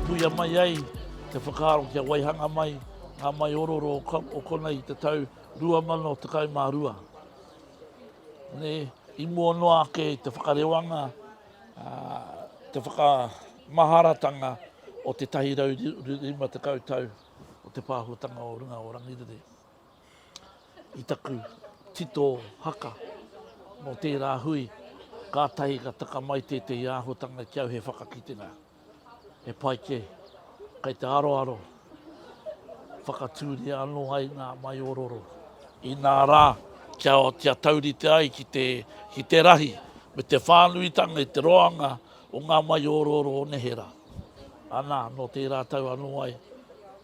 Puia mai ai te whakaaro kia waihanga mai ngā maiororo o konei i te tau 2012. I mua noa ake i te whakarewanga te whakamaharatanga o te 150 tau o te pāhotanga o runga o Rangiriri. I taku tito haka mō tērā hui, kātahi ka taka mai tētehi āhotanga ki au he whakakitenga. He pai kē. Kei te aroaro whakatūria anō ai ngā maiororo. Inā rā, kia, kia taurite ai ki te, ki te rahi me te whānuitanga i te roanga o ngā maiororo o neherā. Anā, nō tērā tau anō ai.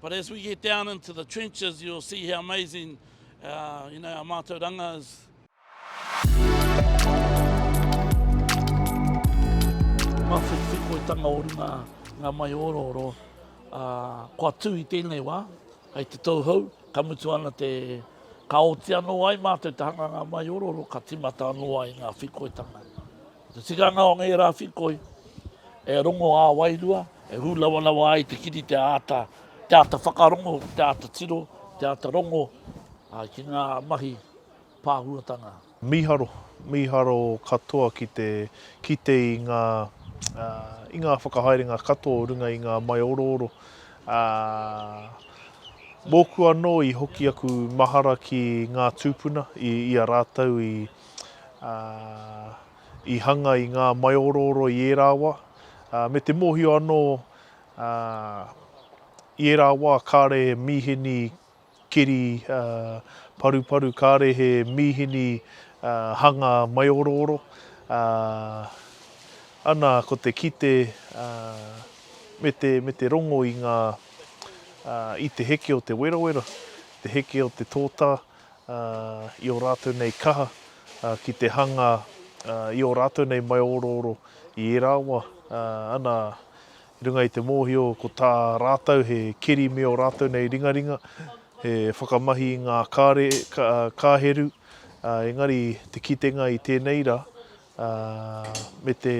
But as we get down into the trenches, you'll see how amazing uh, you know, our mātauranga is. Mā whikoitanga o runga ngā mai orooro, uh, kua tū i tēnei wā, hei te tauhou, ka mutu ana te ka oti anō ai mātou te hanga ngā mai orooro, ka timata anō ai ngā whikoitanga. Ko te tikanga o ngērā whikoi, e rongo ā-wairua, e hūlawalawa ai te kiri te āta, te āta whakarongo, te āta tiro, te āta rongo ki ngā mahi pāhuatanga. Mīharo, mīharo katoa ki te kite i ngā, i ngā whakahaerenga katoa o runga i ngā maiorooro. Ā, mōku anō i hoki aku mahara ki ngā tūpuna i a rātou i, ā, i hanga i ngā maiorooro i ērā wā, ā, me te mōhio anō, ā, i ērā wā kāre he mīhini keri, ā, paruparu, kāre he mīhini, ā, hanga maiorooro, ā, ana ko te kite, ā, me te, me te rongo i ngā, ā, i te heke o te werawera, te heke o te tōtā, i ō rātou nei kaha, ki te hanga i ō rātou nei maiōrōro i ērā wa, ana, i runga i te mōhio ko tā rātou he keri me ō rātou nei ringaringa, he whakamahi i ngā kare, kāheru, engari te kitenga i tēnei ra, me te,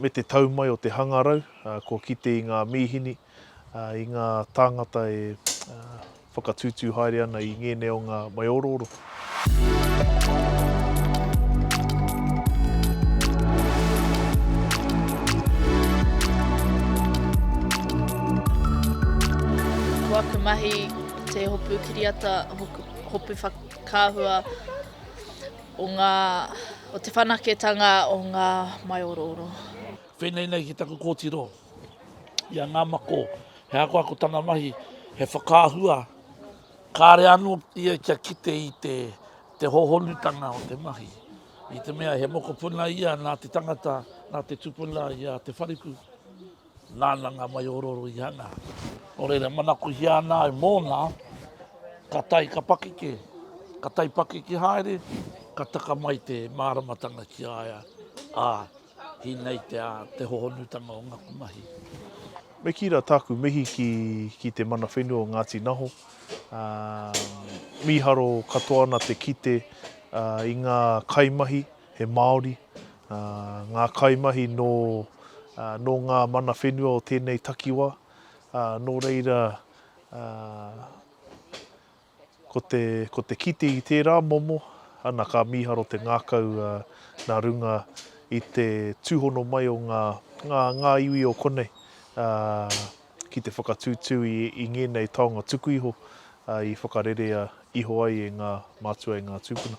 me te tau mai o te hangarau, kua kite i ngā mīhini, i ngā tāngata e whakatūtū haere ana i ngēnei o ngā maiorooro. Ko aku mahi, ko te hopu kiriata, hopu whakaahua. O ngā, o te whanaketanga o ngā maiorooro. Whenei nei ki taku kōtiro i a Ngāmako, he akoako tana mahi, he whakaahua, kāre anō ia kia kite i te, te hohonutanga o te mahi. I te mea he mokopuna ia nā te tangata, nā te tupuna i a Te Whariku. Nāna ngā maiororo i hanga. Nō reira, manakohia ana au mōna, ka tae, ka pakeke, ka tae pakeke haere, ka taka mai te māramatanga ki a ia, ā, ki nei te, ā, te hohonutanga o ngaku mahi. Me kī rā tāku mihi ki, ki te mana whenua o Ngāti Naho. Ā, mīharo katoa ana te kite, ā, i ngā kaimahi, he Māori, ngā kaimahi nō nō ngā mana whenua o tēnei takiwā, nō reira ko te, ko te kite i tērā momo, ana ka mīharo te ngākau nā runga i te tūhono mai o ngā, ngā, ngā iwi o konei ki te whakatūtū i, i ngēnei taonga tuku iho i whakarerea iho ai e ngā mātua, e ngā tūpuna.